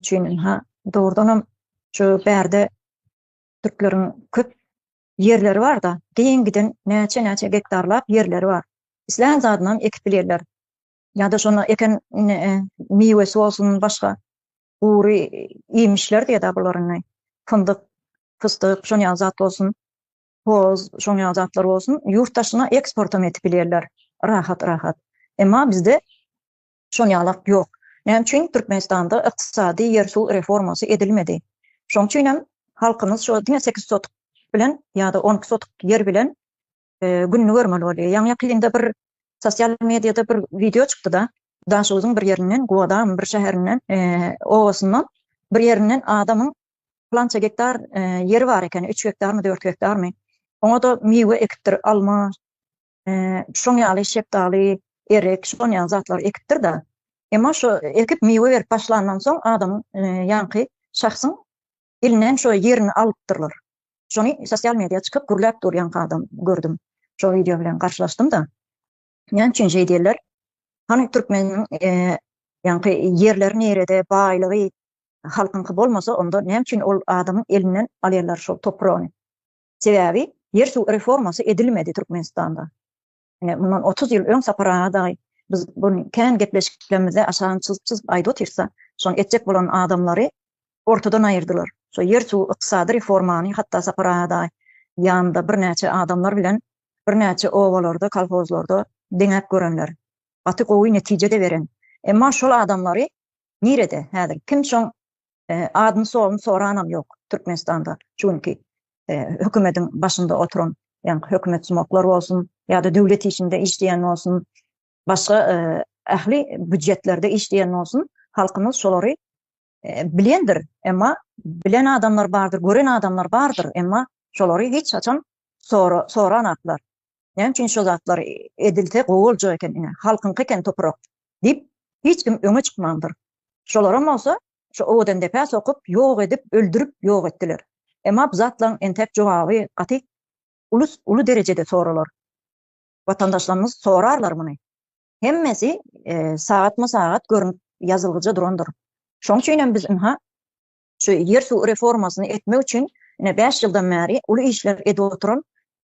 üçin ynha dogrudanam şu bärde türkleriň köp ýerleri barda giň giden näçe näçe gektarlap ýerleri bar islän zadynam ekip bilýärler ýada şonu eken miwesi bolsun başga gury iýmişler diýeda bular indi fyndyk pystyk şon ýaly zat bolsun hoz şoň ýaly zatlar bolsun ýurt daşyna eksportam edip bilýärler rahat rahat emma bizde Şonýalak ýok. Näme üçin Türkmenistanda ykdysady, ýer-suw reformasy edilmedi? Şoň üçin hem halkymyz şo diňe sekiz sotuk bilen ýa-da on iki sotuk ýer bilen gününi görmeli bolýar. Ýaňy-ýakynda bir sosial mediýada bir wideo çykdy-da, Daşoguzyň bir ýerinden, Guwadagymyň bir şäherinden, obasyndan bir ýerinden adamyň plança gektar ýeri bar eken, üç gektarmy, dört gektarmy. Oňa-da miwe ekipdir, alma, şoň ýaly şepdaly, erik, şon ýaly zatlary ekipdir-de. Emma şo ekip miwe berip başlandan soň adamyň, ýaňky şahsyň elinden şo ýerini alypdyrlar. Şony sosial media çykyp gürläp dur ýaňky adam gördüm. Şo wideo bilen garşylaşdym-da. Näme üçin şeý diýerler? Hany türkmeniň ýaňky ýerleri nirede, baýlygy halkyňky bolmasa onda näme üçin ol adamyň elinden alýarlar şol topragyny? Sebäbi ýer suw reformasy edilmedi Türkmenistanda. Ine mundan otuz ýyl öň Sapar aga dagy biz bun kän gepleşiklerimizde aşagyny çyzyp çyzyp aýdyp otyrsa şony etjek bolan adamlary ortadan aýyrdylar. Şo ýer suw ykdysady reformany hatda Sapar aga dagy ýanynda birnäçe adamlar bilen birnäçe obalarda kolhozlarda deňäp görenler. Gaty gowy netije-de beren. Emma şol adamlary nirede häzir kim şoň Adyny soyuny soranam yok Türkmenistanda şu günki hökümediň başynda oturan yani hökümet sumaklar bolsun yada döwlet işinde işleyen bolsun başga ahli bücetlerde işleyen bolsun halkymyz şolary bilendir emma bilen adamlar bardyr gören adamlar bardyr emma şolary hiç haçan soranaklar Näme üçin şo zatlar edilse gowy boljak eken ine, halkyňky eken toprak diýip, hiç kim öňe çykmandyr. Şolaram bolsa şo Owadendepä sokup, ýok edip, öldürip ýok etdiler. Emma bu zatlaryň entek jogaby gaty ulus uly derejede soralar. Watandaşlarymyz sorarlar muny. Hemmesi sagatma-sagat görünip ýazylgyja durandyr. Şoň üçin hem biz ynha şu ýer-suw reformasyny etmek üçin ine bäş ýyldan bäri uly işler edip oturan